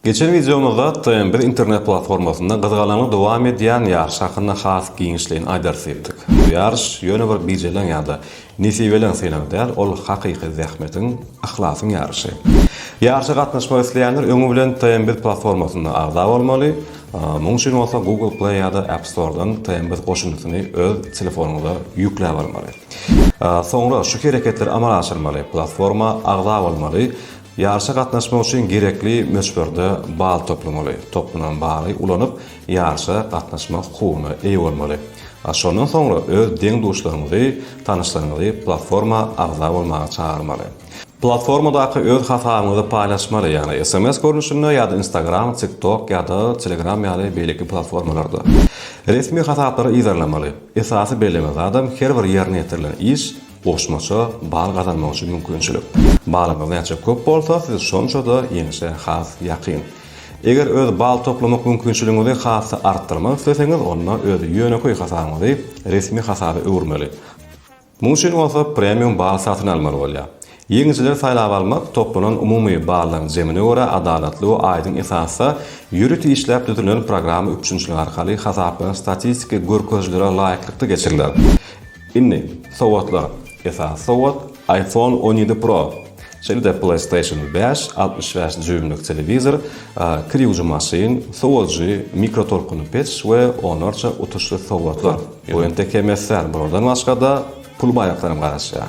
Geçen wideomyzda TM biz internet platformasynda gyzgalaňly dowam edýän ýaryş hakynda has giňişleýin aýdarys diýipdik. Bu ýaryş ýöne bir bijeleň ýa-da nesibeleň synag däl, ol hakyky zähmetiň, yhlasyň ýaryşy. Ýaryşa gatnaşmak isleýänler öňi bilen TM biz platformasyna agza bolmaly, muň üçin bolsa Google Play ýa-da App Store-dan TM biz goşundysyny öz telefonyňyza ýükläp almaly. Soňra şu hereketleri amala aşyrmaly, platforma agza bolmaly, Ýaryşa gatnaşmak üçin gerekli möçberde bal toplamaly. Toplanan baly ulanyp, ýaryşa gatnaşmak hukugyna eýe bolmaly. A şondan soňra öz deň-duşlaryňyzy, tanyşlaryňyzy platforma agza bolmaga çagyrmaly. Platformadaky öz hasabyňyzy paýlaşmaly, ýagny sms görnüşinde ýa-da Instagram, TikTok ýa-da Telegram ýaly beýleki platformalarda. Resmi hasaplary yzarlamaly. Esasy belleme zadam her bir ýerine ýetirilen iş, Goşmaça bal gazanmak üçin mümkinçilik. Balyňyz näçe köp bolsa, siz şonça-da ýeňşe has ýakyn. Eger öz bal toplamak mümkinçiligiňizi has-da artdyrmak isleseňiz, onda öz ýönekeý hasabyňyzy resmi hasaba öwürmeli. Munuň üçin bolsa premium bal satyn almaly bolýar. Ýeňijileri saýlap almak toplanan umumy ballaryň jemine görä adalatly we aýdyň esasda ýörite işläp düzülen programma üpjünçiligi arkaly hasaplanan statistiki görkezijilere laýyklykda geçiriler. Indi sowgatlar, esasy sowgat iPhone on ýedi Pro, şeýle-de PlayStation bäş, altmyş bäş dýuýmlyk telewizor, kir ýuwujy maşyn, sowujy, mikrotolkunly peç we onlarça utuşly sowgatlar. Bu entek hem es däl, bulardan başga-da pul baýaklaram garaşýar.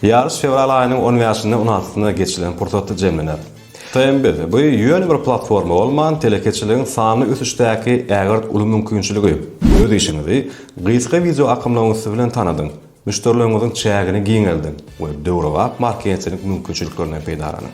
Ýaryş fewral aýynyň on bäşinde, on altysynda geçilen pursatda jemlener. TMBD, bu ýöne bir platforma bolman, telekeçiligiň sanly ösüşdäki ägirt uly mümkinçiligi. Öz işiňizi gysga wideo akymlaryň üsti bilen tanadyň, müşderileriňiziň çägini giňeldiň we döwrebap marketing mümkinçiliklerinden peýdalanyň.